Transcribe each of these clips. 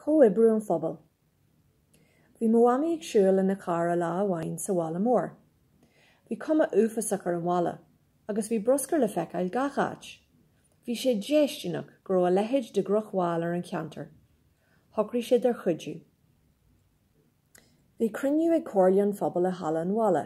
Comhoibriú an phobail. Bhí mo mhamaí ag siúl lena cara lá amháin sa bhaile mór. Bhí cuma uafásach ar an bhaile, agus bhí bruscar le feiceáil gach áit. Bhí sé déistineach go raibh a leithéid de dhrochbhail ar an cheantar. Shocraigh siad ar chuidiú. Bhí cruinniú ag comhairle an phobail i halla an bhaile.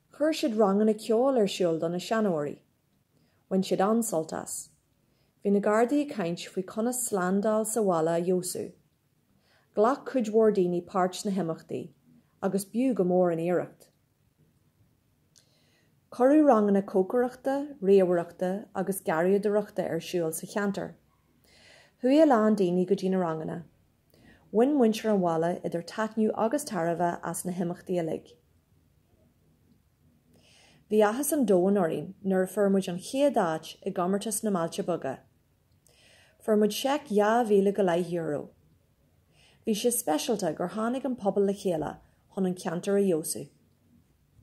Chuir siad ranganna ceoil ar siúl do na seanóirí. Bhain siad an-sult as. Bhí na gardaí ag caint faoi conas slándáil sa bhaile a fheabhsú. Ghlac cuid mhór daoine páirt sna himeachtaí agus b'fhiú go mór an iarracht. Cuireadh ranganna cócaireachta, ríomhaireachta agus garraíodóireachta ar siúl sa cheantar. Chuaigh a lán daoine go dtí na ranganna. Bhain muintir an bhaile idir taitneamh agus tairbhe as na himeachtaí uilig. Bhí áthas an domhain orainn nuair a fuair muid an chéad áit i gComórtas na mBailte Beaga. Fuair muid seic dhá mhíle go leith euro. Bhí sé speisialta gur tháinig an pobal le chéile chun an ceantar a fheabhsú.